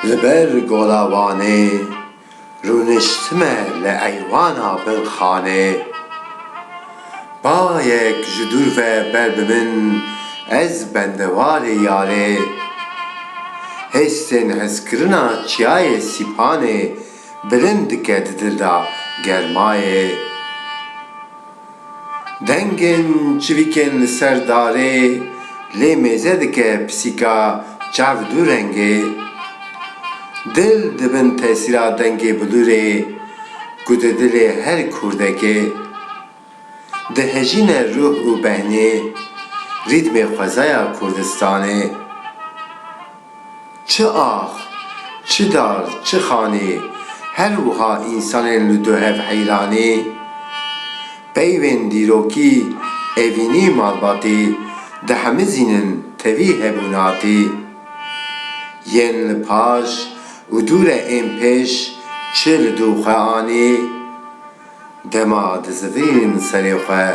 Li ber gola Wanê rûniştime li eywana bin xanê Bayek ji dûr ve ber bi min ez bendewarê yarê Hêstên hezkirina çiyayê Sîpanê bilind dike di dil de germayê. Dengên çivîkên li ser darê lê mêze dike pisîka çav du rengê. Dil di bin tesîra dengê bilûrê ku di dilê her kurdekê dihejîne ruh û behnê rîtmê xwezaya Kurdistanê. Çi ax, çi dar, çi xanê, her wiha însanên li duhev heyranê. Peyvên dîrokî evînî malbatê dihemizînin tevî hebûnatê. Yên li paş û dûre ên pêş çi li dû xwe anê? Dema dizivîn serê xwe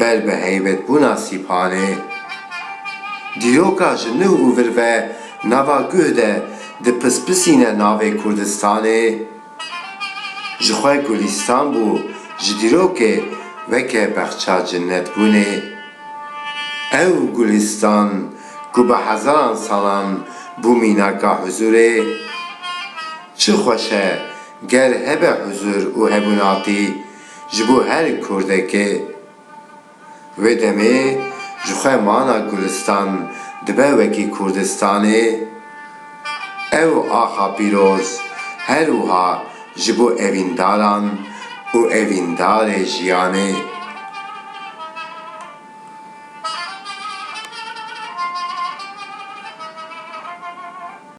ber bi heybetbûna sîpanê, dîroka ji nuh û vir ve nava guh de dipispisîne navê Kurdistanê, ji xwe Gulîstan bû, ji dîrokê weke bexça cinnetbûnê. Ew Gulîstan ku bi hezaran salan bû mînaka huzûrê. Çi xweş e ger hebe huzur û hebûnatî ji bo her kurdekê. Wê demê ji xwe mana Gulistan dibe wekî Kurdistanê. Ew axa pîroz her wiha ji bo evîndaran û evîndarê jiyanê.